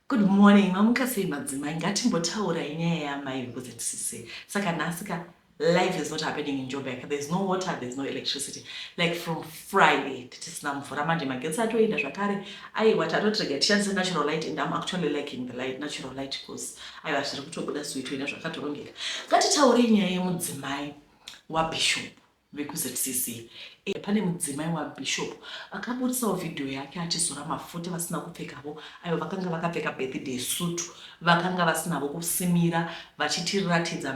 Good morning mamuka sei madzimai ngatimbotaurayi nyaya yaamai because hatisise saka nhasi ka life is not happening in joburg there is no water there is no electricity like from friday titisina mvura manje magetsi atoenda zvakare aiwa tatotirega tishandise natural light and am actually liking the light natural light because aiwa zviri kutobuda suitoenda zvakatorongeka ngatitaurei nyaya yemudzimai wabishop vekuZCC e pane mudzimai waBishop vakaburitsawo vhidhiyo yake achizora mafuta vasina kupfekavo ayo vakanga vakapfeka birthday suit vakanga vasinavo kusimira vachitiratidza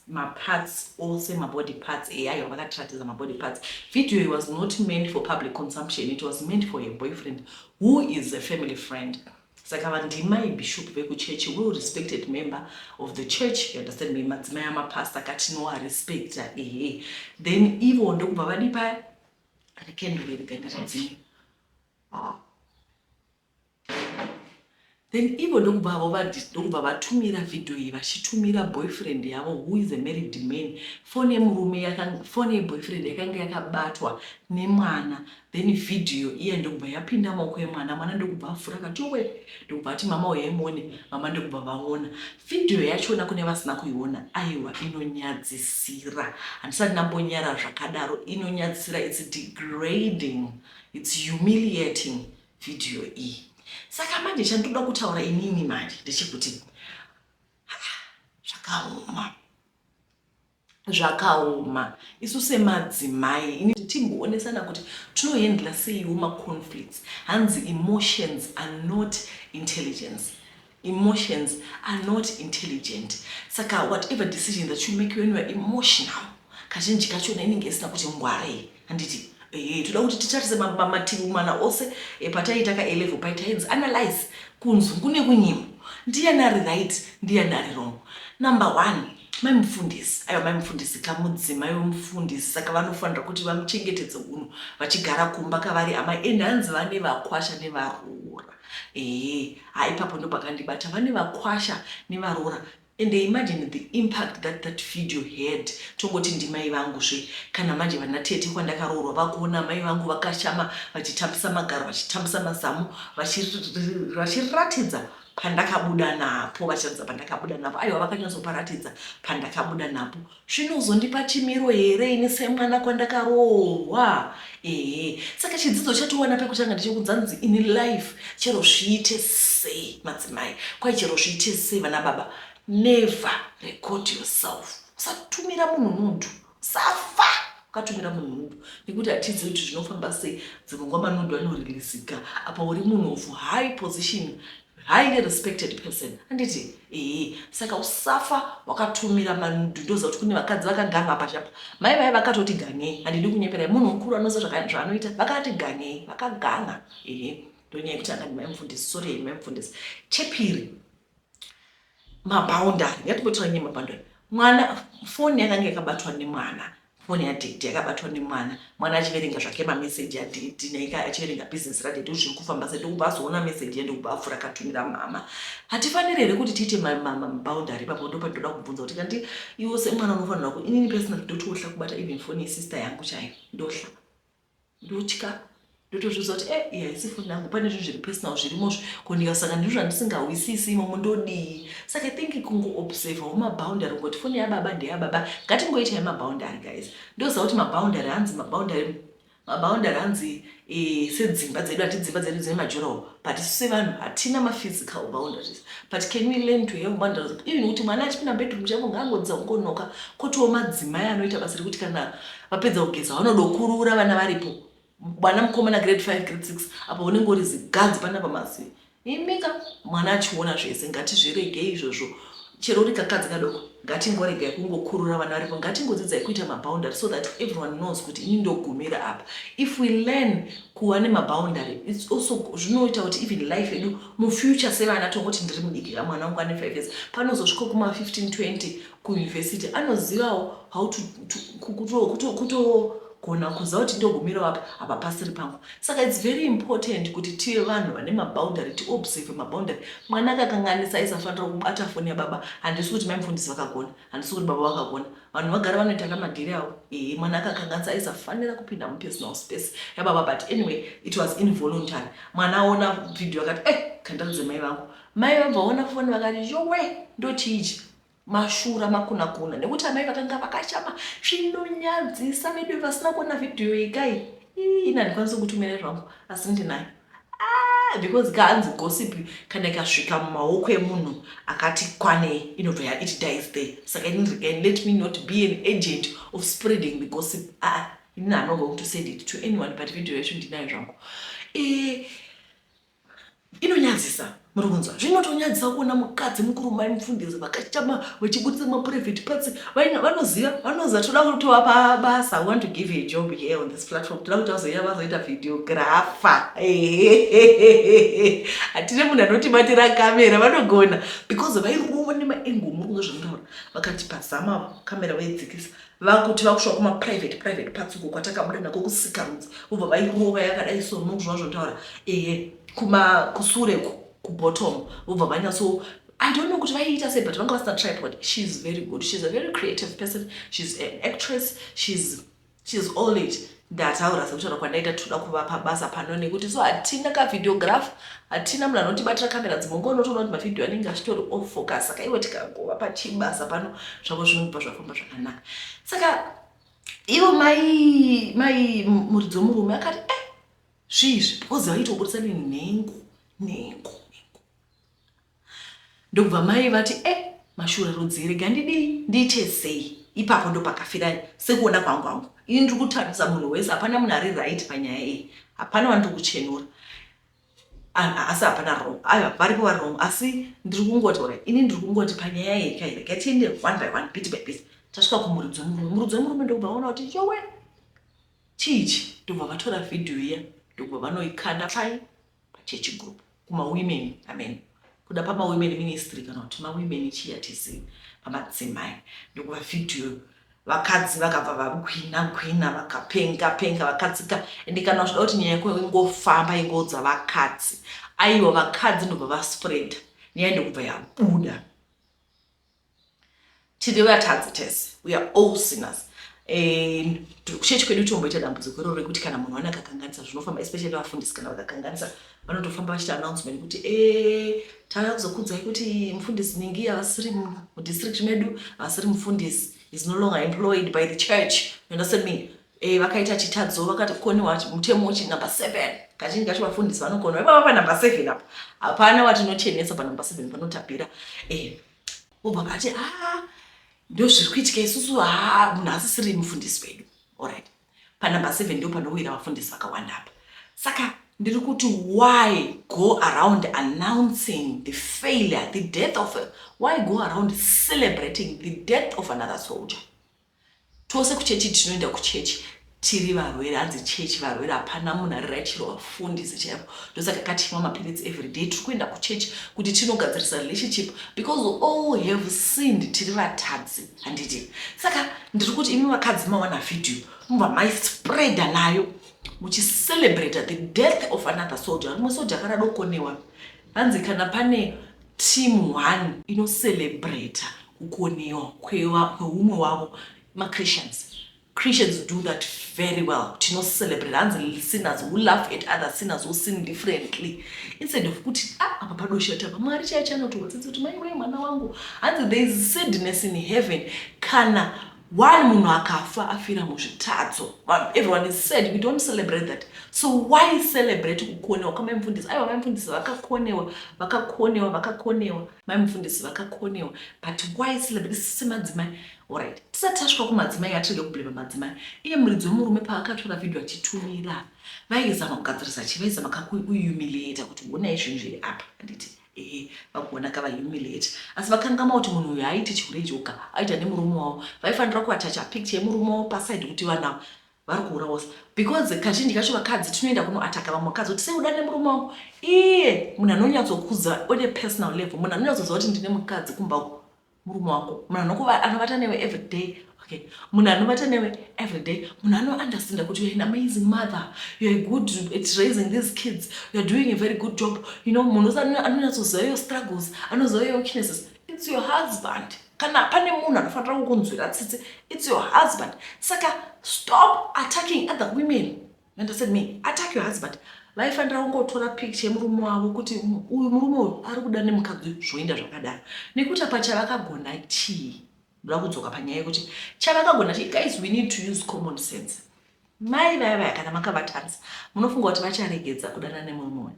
maparts ose mabody parts eya ayo vakatiratidza mabody parts video it was not meant for public consumption it was meant for a boyfriend who is a family friend Saka vanhu ndimai bishop vekuchechi well respected member of the church you understand me madzimai amapasta ka tinowarespecta ehe then ivo ndokubva vadi paya ane kenduru iri ganda radzima ah. then ivo ndokubva avo vadi ndokubva vatumira vhidhiyo iyi vachitumira boyfriend yavo who is a married man fone yemurume fone yeboyfriend yakanga yakabatwa nemwana Then video iya ndokubva yapinda mumaoko emwana, mwana ndokubva avhura akati yowe ndokubva ati mama huyai muone, mama ndokubva vaona. Video yachona kune vasina kuiona aiwa inonyadzisira handisati ndambonyara zvakadaro inonyadzisira it's degrading it's humiliating video iyi. Saka manje chandoda kutaura inini manje ndechekuti zvakaoma. zvakaoma isu semadzimai ini timboonesana kuti tinohandla seiwo maconflicts hanzi emotions are not intelligence emotions are not intelligent saka whatever decision that you make when youare emotional kazhinji kachona inenge isina kuti ngwarei handiti eh, toda kuti titarise mativi mana ose eh, pataiita ka elevel pai tainzi analyze kunzungu nekunyimo ndiyani ari right ndiyani ari wrong number one mai mufundisi aiwa mai mufundisi kamudzimai wemufundisi saka vanofanira kuti vamuchengetedze uno vachigara kumba kavari amai ende hanzi vane vakwasha nevaroora ee eh, ha ipapo ndopakandibata vane vakwasha nevaroora Ende imagine the impact that that video had tongoti ndimai vangu zve kana manje vana tete kwandakaroorwa vakuona amai vangu vakashama vachitambisa magaro vachitambisa mazamu vachiratidza pandakabuda napo vachiratidza pandakabuda napo aiwa vakanyatsoparatidza pandakabuda napo Zvino uzondipa chimiro here ini semwana kwandakaroorwa ehe saka chidzidzo chatowana pekutanga ndechekudza nzi in life chero zviite sei madzimai kwai chero zviite sei vana baba never record yourself usatumira munhu nundu safa ukatumira munhu nundu nekuti hatidzi kuti zvinofamba sei dzimwe nguva manundu anoriliziga apa uri munhu of high position highly respected person handiti ee saka usafa wakatumira manudu ndoziva kuti kune vakadzi vakaganga pachapa mai vaye vakatoti gangei handidi kunyeperai munhu mukuru anoziva zvaanoita vakati gangei vakaganga ee ndonyaya yekuti angani mai mufundisi sori mai mufundisi chepiri mabaundari ngatipotiranyei mabaundari mwana foni yakanga yakabatwa nemwana Foni yadaddy yakabatwa nemwana, mwana achiverenga zvake mameseji adaddy naye ka achiverenga business radaddy kuti zviri kufamba sei ndokubva azoona meseji ye ndokubva apfura akatumira mhamha. Hatifaniri here kuti tiite maboundary ipapo ndopandinoda kubvunza kuti kanti iwo semwana unofanirwa ku inini personally ndoti wohla kubata even foni yesister yangu chaiyo ndohla ndotya ndotozviudza kuti e iyi haisi foni yangu pane zvinhu zviri personal zvirimozvo ko ndikasanga ndizvo zvandisingahwisisi imomo ndodii saka think kungoobservawo maboundary kungoti foni yababa ndeyababa ngatingoitai maboundary guys ndoziva kuti maboundary hanzi maboundary maboundary hanzi e, sedzimba dzedu hati dzimba dzedu dzine majurawo but isu sevanhu hatina maphysical boundaries but can we learn to have boundaries even kuti mwana achipinda bedroom chavo ngaangodzidza kungonoka kotiwo madzimai anoita basa rekuti kana Vapedza kugeza vanodokurura vana varipo. Mwana mukomana grade 5 grade 6 apo unenge uri ziganzi pana pamasi. Imika mwana achiona zvese ngatizvirege izvozvo. Chero uri kakadzi kadoko ngatingoregai kungokurura vana varipo ngatingodzidzai kuita maboundary so that everyone knows kuti ini ndogumira apa. If we learn kuva nemaboundary it's also zvinoita kuti even life yedu mufuture sevana tongoti ndiri mudiki ka mwana wangu ane 5 years panozosviko kuma 15 20 kuUniversity anozivawo how to, to kuto, kuto, kuto kugona kuziva kuti ndogumirawo apa apa pasiri pangu saka its very important kuti tive vanhu vane maboundary tiobserve maboundary mwana akakanganisa aisafanira kubata foni yababa handisi kuti mai mufundisi vakagona handisi kuti baba vakagona vanhu vagara vanoita namadhiri avo ehe mwana akakanganisa aisafanira kupinda mupersonal space yababa but anyway it was involuntary mwana aona vhidhiyo akati e eh, kandaudze mai vangu mai vabvaona foni vakati yowe ndochiichi mashura makunakuna nekuti amai vakanga vakachama zvinonyadzisa vedu vasina kuona vhidhiyo ikai ini handikwanisi kutumira zvangu asi ndinayo ah, because kaanzi gossip kana ikasvika mumaoko emunhu akati kwanei inobva ya it dies there saka ini regain let me not be an agent of spreading the gossip ah, ini anogoing to send it to anyone but video yacho ndinayo zvangu eh, Inonyadzisa muri kunzwa zvinotonyadzisa kuona mukadzi mukuru mai mufundisi vakachama vachibudisa maprivate parts vaina vanoziva vanoziva toda kutovapa basa we want to give you a job here on this platform toda kuti vazoia vazoita videographer hatine munhu anotibatira kamera vanogona because vairova nemaengo muri kunzwa zvakundaura vakati pazama kamera vaidzikisa vakuti vakusvika kuma private private parts uko kwatakabuda nako kusikarudzi vobva vairova yakadai so munhu zvava zvotaura ehe kuma kusure ku kubottom vobva vanyatso I don't know kuti vaiita sei but vanga vasina tripod she is very good she is a very creative person she is an actress she is she is all it ndataura sekutaura kwandaita tinoda kuvapa basa pano nekuti so hatina kavideograph hatina munhu anotibatira kamera dzimwe nguva unotoona kuti mavhidhiyo anenge achitori off focus saka iwe tikangova pachibasa pano zvavo zvinobva zvafamba zvakanaka saka ivo mai mai muridzi wemurume akati e eh, zviizvi ozi vaitoburitsa nenhengo nhengo Ndokubva mai vati eh mashura rudzi rega ndidii ndiite sei ipapo ndopakafira sekuona kwangu hangu ini ndiri kutarisa munhu wese hapana munhu ari right panyaya iyi hapana vandiri kuchenura asi hapana wrong aiwa varipo vari wrong asi ndiri kungoti ora ini ndiri kungoti panyaya iyi ka here katiende one by one bit by bit tasvika kumuridzi wemurume muridzi wemurume ndokubva vaona kuti yowe chiichi ndokubva vatora vhidhiyo iya ndokubva vanoikanda pai pachechi group kumawomen amen kuda pamawomen ministry kana kuti mawomen chiya tese pamadzimai ndokuva vhidhiyo vakadzi vakabva vakwina kwina vakapenga penga vakadzika ende kana uchida kuti nyaya yako ingofamba ingoudza vakadzi aiwa vakadzi ndobva vaspread nyaya ndokubva yabuda tiri vatadzi tese we are all sinners and chechi kwedu tomboita dambudziko iroro rekuti kana munhu wana kakanganisa zvinofamba especially vafundisi kana vakakanganisa vanotofamba vachita announcement kuti e eh, tauya kuzokudzai kuti mufundisi ningi havasiri mudistrict medu havasiri mufundisi is no longer employed by the church you understand me Eh, vakaita chitadzo vakakoniwa mutemo uchi number seven kazhinji kacho vafundisi vanokoniwa ipava panumber seven apo hapana watinochenesa panumber seven panotapira eh, obva vati a ah, ndo zviri kuitika isusu ha ah, munhu asisiri mufundisi wedu orit panumber seven ndo panowira vafundisi vakawanda apa saka ndiri kuti why go around announcing the failure the death of a, why go around celebrating the death of another soldier Tose kuchechi tinoenda kuchechi tiri varwere hanzi chechi varwere hapana munhu ari right chero vafundisi chaivo ndosaka katinwa mapiritsi everyday tiri kuenda kuchechi kuti tinogadzirisa relationship because all have sinned tiri vatadzi handiti saka ndiri kuti imi vakadzi mawana video mubva maispreada nayo muchicelebrata the death of another soldier rimwe soldier akaradokonewa hanzi kana pane Team one ino celebrater kukoniwa kweumwe wavo ma Christians. Christians do that very well. Tino celebrate hanzi sinners who laugh at other sinners who sin differently. Instead of kuti ah apa padosha tapa Mwari chaiye chanotihotsitsa kuti mai wei mwana wangu. Hanzi there is sadness in heaven kana Why munhu akafa afira muzvitadzo vanhu everyone is sad we don't celebrate that so why celebrate kukonewa kwamai mufundisi aiwa mai mufundisi vakakonewa vakakonewa vakakonewa mai mufundisi vakakonewa but why celebrate sisi semadzimai orit tisati tasvika kumadzimai atirege kublema madzimai iye muridzi wemurume paakatora vhidhiyo achitumira vaizama kugadzirisa chi vaizama kakuyumiliata kuti honai zvinhu zviri apa handiti Ehe vagona ka vahumiliate asi vakangama kuti munhu uyu haaiti chihure joka aita nemurume wavo vaifanira kuatacha picture yemurume wavo paside kuti vanhu ava vari kuurawa se because kazhinji kacho vakadzi tinoenda kunoataka vamwe vakadzi kuti seuda nemurume wavo iye munhu anonyatsokuza one personal level munhu anonyatsoziva kuti ndine mukadzi kumba uku murume wako munhu anokuva anovata newe every day okay munhu anovata newe every day munhu anounderstanda kuti you're an amazing mother you're good at raising these kids you're doing a very good job you know munhu anonyatsoziva your struggles anoziva your weaknesses it's your husband kana pane munhu anofanira kukunzwira tsitsi it's your husband saka stop attacking other women And I said, me, attack your husband. vaifanira kungotora picture yemurume wavo kuti uyu murume uyu ari kuda nemukadzi uyu zvoenda zvakadaro nekuti apa chavakagona chii ndoda kudzoka panyaya yekuti chavakagona chii guys we need to use common sense mai vaya vaya kana makavatarisa munofunga kuti vacharegedza kudana nemumwe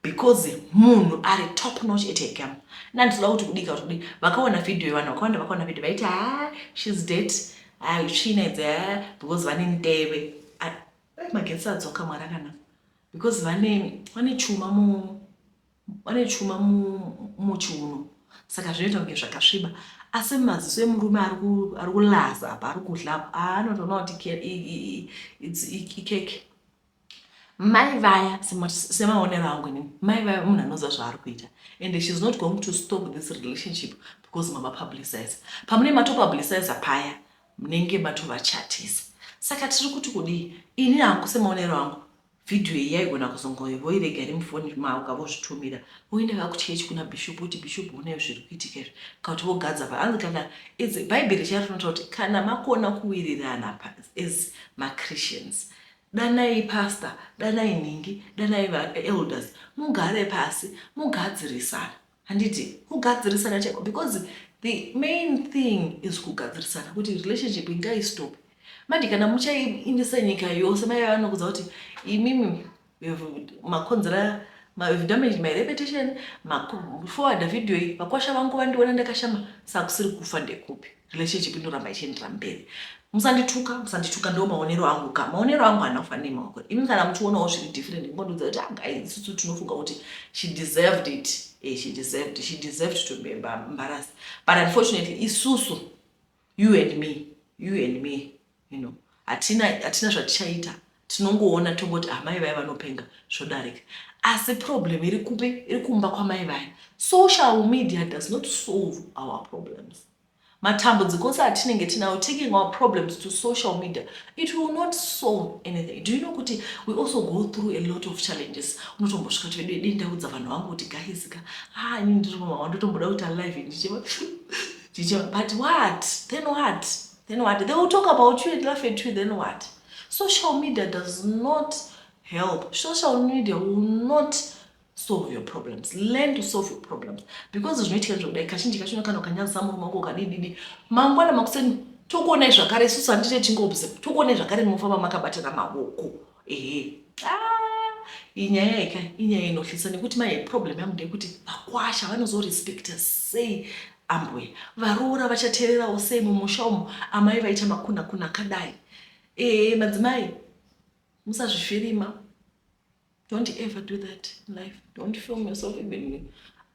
because munhu ari top notch at her game nanditoda kuti kudika kuti kudii vakaona video yevanhu vakawanda vakaona video vaiti haa shes det haa tsvina idzi haa because vane ndeve dai magetsi adzoka mwari akana because vane vane chuma mu vane chuma muchiuno saka zvinoita kunge zvakasviba asi maziso emurume ari kulaza apa ari kudla apa anotoona kuti ikeke Mai vaya semaonero angu inini mai vaya munhu anoziva zvaari kuita and she's not going to stop this relationship because mama publicize pamune mato publicize paya munenge matovachatisa saka tiri kuti kudii ini hangu semaonero angu vhidhiyo iyi yaigona kuzongovoirega iri mufoni mavo ukavozvitumira voenda vakuchechi kuna bishop kuti bishop unai zviri kuitika izvi kakuti vogadza pa anzi kana bhaibheri charo rinotaura kuti kana makona kuwirirana as machristians Danai pastor, danai nhingi, danai va elders mugare pasi mugadzirisane. Handiti kugadzirisana chaiko because the main thing is kugadzirisana kuti relationship ingai stop. Manje kana muchaiindisa nyika yose mai vanokudza kuti imimi makonzera I've damaged my reputation, maforwarda video iyi, vakwasha vangu vandiona ndakashama, sakusiri kufa ndekupi. relationship inoramba ichiendera mberi musandituka musandituka ndo maonero angu ka maonero angu haana kufanira nemaoko imi kana muchionawo zviri different ngondiudza kuti anga ah, isusu tinofunga kuti she deserved it eh, she deserved she deserved to be embarrassed but unfortunately isusu you and me you and me you know hatina hatina zvatichaita tinongoona tongoti ah mai vaye vanopenga zvodarika asi problem iri kupi iri kumba kwamai vaye social media does not solve our problems matambudziko ose atinenge tinawo taking our problems to social media it will not solve anything do you know kuti we also go through a lot of challenges unotombosvika kuti vedu dei ndaudza vanhu vangu kuti gaizika ha ah, ini ndiri mama wandotomboda kuita live ndichiva ndichiva but what then what Then what? They will talk about you and laugh at you, then what? Social media does not help. Social media will not solve your problems. Learn to solve your problems. Because zvinoitika zvakudai kazhinji kacho unokana ukanyadzisa murume wako ukadididi. Mangwana makuseni tokuonai zvakare isusu handite tingobze. Tokuonai zvakare munofamba makabatana maoko. Ehe. Ah, inyaya ika inyaya inohlisa nekuti mai problem yangu ndeyekuti vakwasha vanozorespekta sei Ambuya varoora vachateererawo sei mumusha umu amai vaita makuna kuna akadai ee madzimai musazvifirima don't ever do that in life don't film yourself even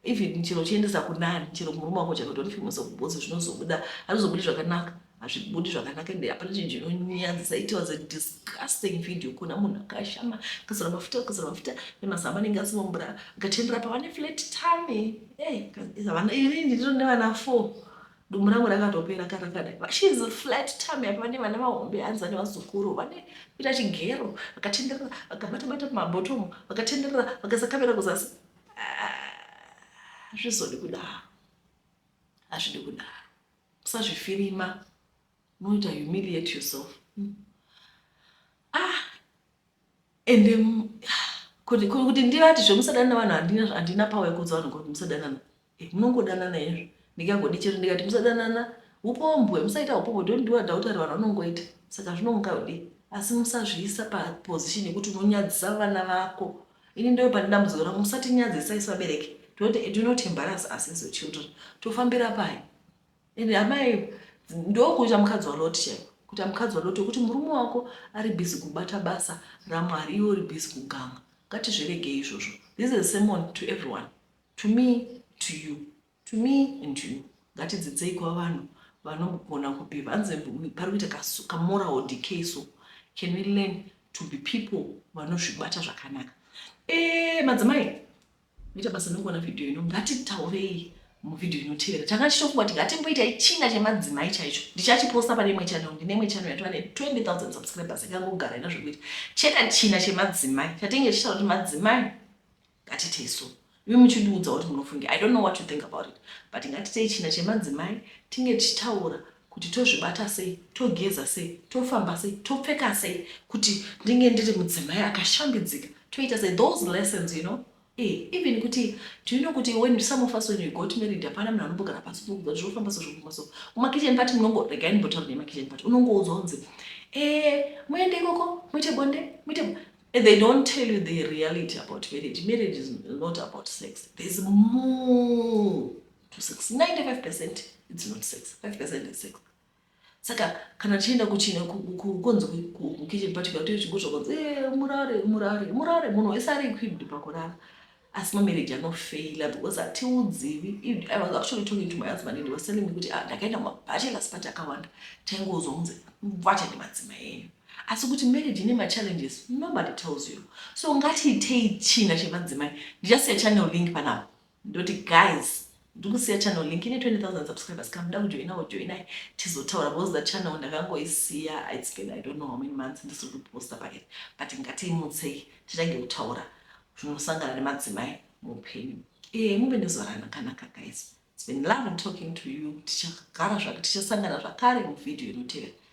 even chero uchiendesa kunani chero murume wako chero don't film yourself because zvinozobuda hazvizobudi zvakanaka hazvibudi zvakanaka ende hapana chinhu chinonyadzisa it was a disgusting video kuona munhu akashama akazora mafuta akazora mafuta nemazama anenge asimo mvura akatendera pavane flat tane havana iri ndiro nevana four dumbu rangu rakatopera karakadai vashes flat time apa vane vana vahombe hanzi vane vazukuru vane kuita chigero vakatenderera vakabatabata mumabhotomu vakatenderera vakasakamera kuzasi ah, hazvizodi kudaro hazvidi kudaro Usazvifirima unoita humiliate yourself ah ende kuti kuti ndivati zvemusadanana vanhu handina handina power yekuudza vanhu kuti musadanana eh, munongodanana izvo ndikangodi chero ndikati musadanana upombwe musaita upombwe don't do adultery vanhu vanongoita saka zvinonga kudii asi musazviisa paposition yekuti unonyadzisa vana vako Ini ndoo pane dambudziko rangu musatinyadzisa isu vabereki tinoti do not embarrass us as your children tofambira pai and amai ndokuita mukadzi waloti chaiko kuita mukadzi waloti wekuti murume wako ari busy kubata basa ramwari iwe uri busy kuganga ngatizviregei izvozvo this is a sermon to everyone to me to you To me and to you ngatidzidzei kwavanhu vanogona kubehave hanzi pari kuita kamoral decay so can we learn to be people vanozvibata zvakanaka e madzimai ita basa nokona vhidhiyo ino ngatitaurei muvhidhiyo inotevera tanga tichitofunga kuti ngatimboita ichinga chemadzimai chaicho ndichachiposta pane imwe channel ndine imwe channel yatova ne 20 000 subscribers ikangogara ina zvekuita cheta china chemadzimai chatenge tichitaura kuti madzimai ngatite isu imi muchindiudza kuti munofungi i don't know what you think about it but ngatitei china chemadzimai tinge tichitaura kuti tozvibata sei togeza sei tofamba sei topfeka sei kuti ndinge ndiri mudzimai akashambidzika toita sei those lessons you know Eh, even kuti do you know kuti when some of us when we got married hapana munhu anombogara pasi pokuudza kuti zvofamba so zvofamba so kumakitchen party munongo regai ndimbotaura nemakitchen party unongoudzwa unzi eh muende ikoko muite bonde muite And they don't tell you the reality about marriage. Marriage is not about sex. There's more to sex. 95% it's not sex. 5% is sex. Saka kana tichienda kuchina kukonzi kukitchen party kana tichigotsva konzi eh murare murare murare munhu wese ari equipped pakurara. asi mamarriage anofeila because hatiudzivi i was actually talking to my husband and was telling me kuti ah, ndakaenda mumabachelors party akawanda taingouzwa kunzi mvacha nemadzima enyu asi kuti marriage ine machallenges nobody tells you so ngatiitei china chemadzimai ndichasiya channel link panapa ndoti guys Ndikusiya channel link ine 20000 subscribers ka muda kujoinawo joinai tizotaura because that channel ndakangoisiya it's been i don't know how many months ndisiri kuposta paketi but ngatiimutsei titange kutaura zvinosangana nemadzimai muupenyu ee muve nezuva ranakanaka guys it's been loving talking to you tichagara zvake tichasangana zvakare muvhidhiyo inotevera